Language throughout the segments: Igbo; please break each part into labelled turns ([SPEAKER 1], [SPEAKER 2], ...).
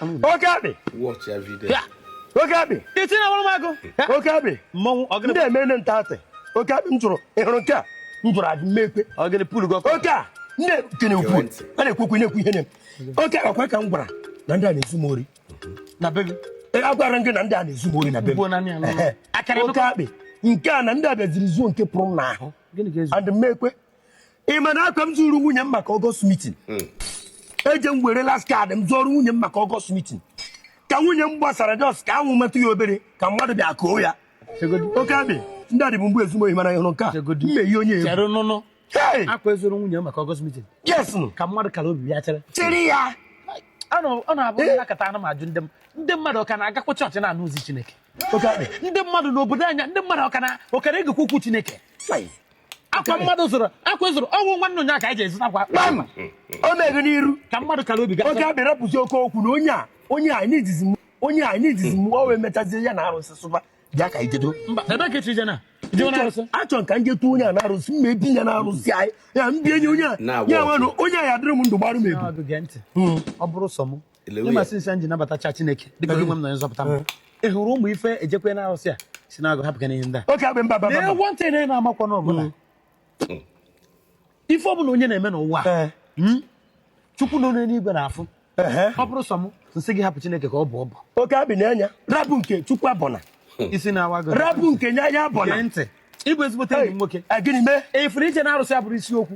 [SPEAKER 1] oke
[SPEAKER 2] akpị oke
[SPEAKER 1] akpị itinye na
[SPEAKER 3] ọgbọrọmagụ oke
[SPEAKER 1] akpị mmọnwụ
[SPEAKER 3] ndị emene nta atị
[SPEAKER 1] oke akpị m jụrụ ị hụrụ nke a m jụrụ adị m ekwe oke a
[SPEAKER 3] ndị
[SPEAKER 1] kene ukwu a na-ekwekwu na-ekwu ihe na-eme oke akwa ka m gwara na ndị a na-ezu m ori na be
[SPEAKER 3] gị agwara gị na
[SPEAKER 1] ndị a na-ezu m ori na be m oke akpị nke a na ndị a bịaziri zuo nke pụrụ m n'ahụ adị m ekwe ị ma na akwa m zụrụ nwunye m maka August meeting eje m were last card m zụọrọ nwunye m maka August meeting ka nwunye m gbasara just ka anwụ metụ ya obere ka mmadụ bịa koo ya oke abị ndị a dịbụ mgbe ezu m ohi mana ịhụrụ nke a Chegodu. mmehie onye egwu chere nụnụ
[SPEAKER 3] Hey! akwa ị
[SPEAKER 1] zụọrọ nwunye
[SPEAKER 3] maka August meeting yes nụ. ka
[SPEAKER 1] mmadụ kara obi
[SPEAKER 3] ya chere chịrị
[SPEAKER 1] ya Ọ na-
[SPEAKER 3] ọ na-abụ m nọkata ana m ajụ ndị m ndị mmadụ ọ ka na-agakwa chọọchị na-anụ ozi chineke oke abị ndị
[SPEAKER 1] mmadụ n'obodo
[SPEAKER 3] anyị a ndị mmadụ ọ ka na- ọ ka na-egekwa okwu chineke Fai. akwa mmadụ zụrụ akwa zụrụ ọnwụ nwanne onye aka eji ezụta akwa kpam
[SPEAKER 1] o meghị n'iru ka mmadụ kara obi oke
[SPEAKER 3] abị rapụzi oke okwu na
[SPEAKER 1] onye a onye a n'idizi m onye a n'idizi m o wee mechazie ya na arụsị sụba bịa ka ijedo mba ebe ka echi
[SPEAKER 3] jena achọ m ka
[SPEAKER 1] m jetu onye a na arụsị mma ebi ya na arụsị anyị ya mbie nye onye a ya nwanụ onye a ya dịrị m ndụ gbarụ m ebu hmm. ọ bụrụ
[SPEAKER 3] sọ m ị ma since m ji nabatacha Chineke dịka onye nwe m na onye nzọpụta m eh. ị hụrụ ụmụ ife ejekwe na arụsị a si na agụ hapụ gị n'ihe ndị a
[SPEAKER 1] ntị na ị na-amakwa
[SPEAKER 3] n'ọbụla hmm. ife ọbụla onye na-eme n'ụwa eh. hmm? chukwu nọ n'enigwe na-afụ ọ bụrụ sọ m m sị gị hapụ Chineke ka ọ bọọ ọbọ oke abị
[SPEAKER 1] na-enya rapụ nke chukwu abụna hmm. isi na-awa gị
[SPEAKER 3] rapụ nke nya ya abụna
[SPEAKER 1] ntị ị
[SPEAKER 3] bụ ezigbote enyi m nwoke eh, gịnị mee ị fụrụ ije
[SPEAKER 1] na arụsị abụrọ
[SPEAKER 3] isiokwu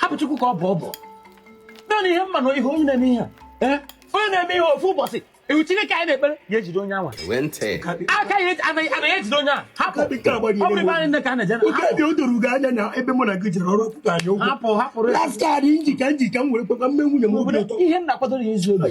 [SPEAKER 3] hapụ chukwu ka ọ bọọ ọbọ naanị ihe m ma na ihe onye na-eme ihe a onye na-eme ihe ofu ụbọchị iwu chineke anyị na-ekpere ya ejide onye anwa aka ya anaghị ejide onye a hapụ ọ bụrụ ebe anyị nne ka a na-eje na o doro gị anya
[SPEAKER 1] na ebe mụ na gị jere ọrụ a kwụọ anyị ụgwọ hapụ hapụrụ ya last
[SPEAKER 3] card m ji
[SPEAKER 1] ka m ji ka m were kwekwa mee nwunye m obi ụtọ ihe m na-akwadoro ya ezi obi